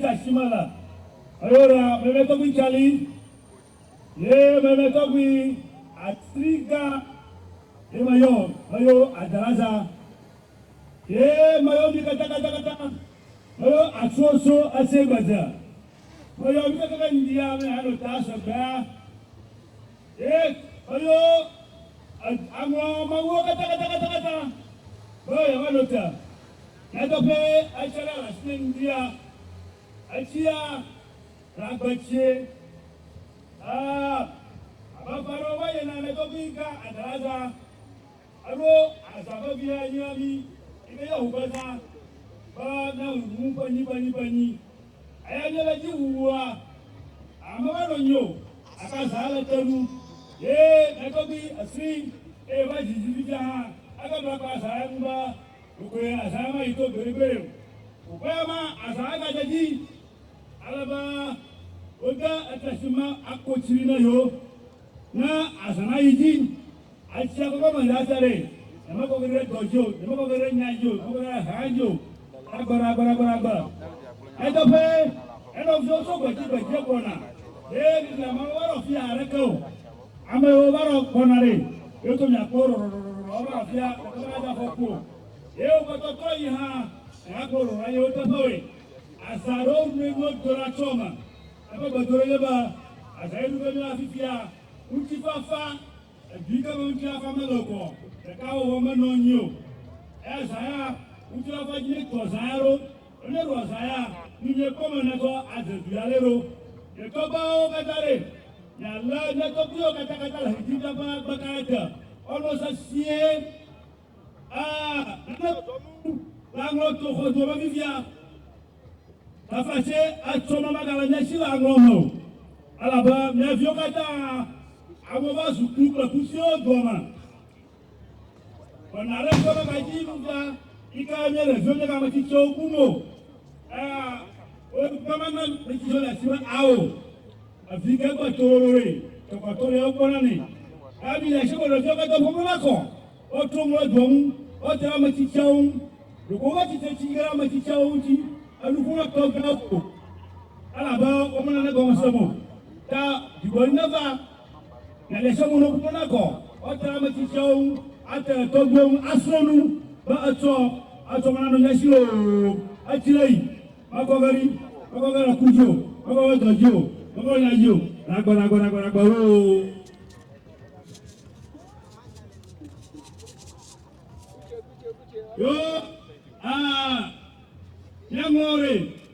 Tashimala, Ayora, meme tɔgbi Cali, ye meme tɔgbi Atriga, ye mayɔ mayo Adalaza, ye mayɔ mi kata kata kata, mayo atsuoso ase gbedze, mayɔ mi kata kata ndia me hano ta sɔgbea, ye mayo aŋlɔ mawuwo kata kata kata kata, mayo yamano ta. Nyateƒee, etsia ɖe le asinye ŋdia, etsia le agbe tsie. Aa, abe afã aɖewo va yi ene, ame tɔgbi yi ka adala azã, eɖo azã vevi he nyi na mí, yi ke yɔ ŋu be zã, be na ŋu ɖu ŋu ƒe nyi ƒe nyi ƒe nyi. Eya mí le dzi wuwua, ame va nɔ nyi o, gake azã le te nu. Ye ame tɔgbi esri, eye va dzi dzi fifia hã, eke bla kple azã ŋu be. Ɖokoe azãa mayi to gbeɖegbeɖe o. Wòkpɔe be azã agadze edzi ale be wode ete si me ako tsri ne yewo. Ne azã nayi edzi atsia kɔkɔ me ɖe ate ɖee, nyemekɔ ge ɖe dɔ dzi o, nyemekɔ ge ɖe nya dzi o, nyemekɔ ge ɖe haa dzi o. Agbe ɖe agbe ɖe agbe ɖe agbe. Nyateƒee, enɔ viwo tso gbedzi gbedzi gbɔna, eye miglã mawo va nɔ fiẽ haɖeke o. Amewo va nɔ gbɔna ɖe ye to mia kpɔ rɔrɔrɔrɔrɔ ava nɔ afia gake me ade afɔku o. Ye wo kpɔtɔ trɔ yi hã mi a kpɔ rɔrɔrɔ yewo teƒe woe. Azã ɖewo ŋu mi nuwo dona tso eme. Eƒe gbedoɖo nye be azã ye nu be mila fifia ŋuti fafa edu yi ke me ŋuti la fa mele okoɔ ɖeka wɔwɔ me nɔ nyi o. Eya azã ya ŋuti la fa dzi ne tu azã ya ɖo. Wonye ɖo azaya, ni nye kɔme netsɔ adze dui ale ɖo. Nye tɔgbawo kata ɖe, ni ale nye tɔgbuiwo kata kata le hiti ta ƒe agbe ka ete, ɔnɔ sesie, a nane zɔzɔnu le aŋlɔ to xɔ dome vivia. Tafa se atsɔ ma magale mia si le aŋlɔ me o, elabe mia viwo kata, amewo va zu kpu kple kufiwo doa me. Wɔna aɖe kpɔ ɖe madzi nuga yi ke nye ɖeviwo nye ame tsitsiwo ku mo. Wogama na tsitsiwo le asi me awo. Evi ke gbɔ tso ɖoɖoe. Tɔkɔtɔ ɖe wokpɔ na ne. Gabi le asi me ɖeviwo kata ƒoƒo na kɔ. Wotrɔ mo ɖe dua ŋu. Wote ɖe ame tsitsiawo ŋu. Ɖeko wo tsitsi tsi ɖe ame tsitsiawo ŋuti. Enu ƒo na tɔgbeawo. Elabe womena ne gɔmesem o. Ta dzigbɔɖi neva. Na ɖe sɔmu no kudo na kɔ ɔtɛ ame tsitsiawo ŋu ate tɔgbuiwo ŋu asrɔ̃ nu be etsɔ etsɔ mana no nyasi o etsi le yi mekɔ ge ɖi mekɔ ge le ku dzi o mekɔ ge dɔ dzi o mekɔ ge nya dzi o nagbɔ nagbɔ nagbɔ nagbɔ o. yo aa ah, nyaŋlɔre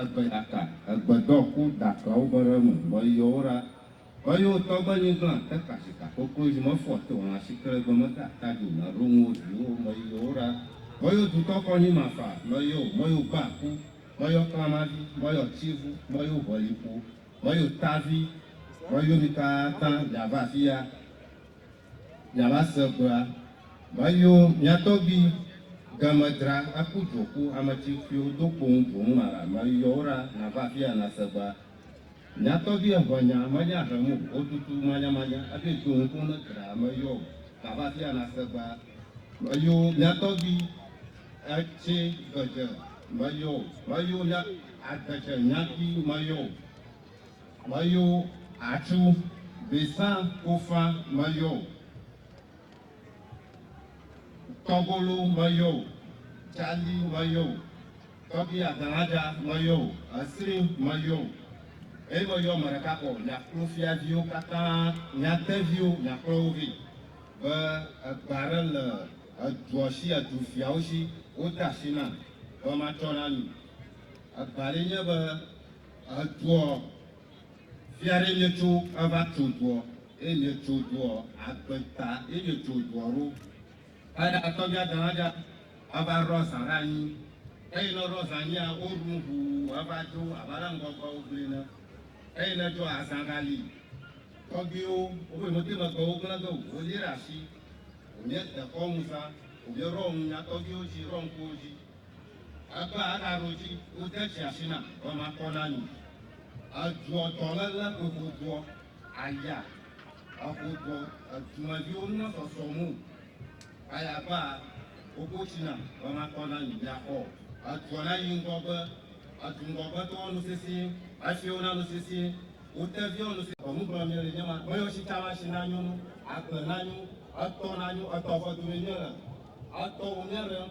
Egbe ɖaka, egbe dɔ ku da kpeawo be ɖe nu, be yi yɔwo ɖa, be yi wo tɔgbe nyi gblã te kashika koko yi me fɔ te ona shi kele egbe me da ta ju na ɖo nu wo vi wo me yi yɔwo ɖa, be yi du tɔ kɔ nyi ma fa me yi wo me yi wo gba ku, me yi wo kpla ma vi, me yi wo tsi vu, me yi wo ʋe lipo, me yi wo ta vi, me yi wo mi ka ta ya va afi ya. Miava se egbea, mayo mia tɔgbi ga me dra aku dzo ku ame tsi fiwo do kpoŋ dzo ŋu mara mayo wo ɖa nava afia na se egbea. Mia tɔgbi eŋe nya manya ahem o wo tutu manya manya ebe dzo ŋu kpoŋ ne dra mayo nava afia na se egbea. Mayo mia tɔgbi etsi gbe dze mayo mayo mia adze dze nya ki mayo. Meyo atsu besa kofa meyo o tɔgolo meyo o tchali meyo o tɔbi adalaja meyo o esri meyo o eye meyɔ ame ɖeka kɔ miaklo fiaviwo katã miateviwo miakplɔ wo vɛ be egbe aɖe le edua si edu fiawo si wode asi nam be matsɔ na mi egbe aɖee nye be Edua, fia ɖe nye tso eva tso dua, eye nye tso dua, agbe ta ye nye tso dua ɖo. Eɖe atɔbia dalaja eva ɖɔ zã ɖe anyi, eye ne ɖɔ zã nyia, wo ɖu ŋu eva dzo abe ale ŋgɔgbe wo gblɔe ne. Eye ne dzo azã ɖa li, tɔgbiwo wo ƒe ŋɔti megbe wo gblẽ ge o, wo li ɖe asi, wo nye dekɔ ŋu zã, wo nye ɖɔ ŋu nya tɔgbiwo dzi, ɖɔ ŋku wo dzi. Egbea eɖa ɖo dzi, wode tsi asi nam be makɔ na mi. Edzuɔ dɔléle ƒe xoxoa, aya, exoxoa, edumeviwo ŋu mesɔsɔm o. Aya egbea woƒo tsi nam be makɔ na mi, miaxɔ o. Edzuɔ na yi ŋgɔgbe, edu ŋgɔgbetɔwo nu sesĩe, efiwo na nu sesĩe, wo teviwo nu sesĩe. Nu gblɔm miele nye ma, meyɔ tsitsa ma si nanyo nu, agble nanyo, etɔ nanyo, etɔ ƒe dumee miele, etɔwo miaɖem.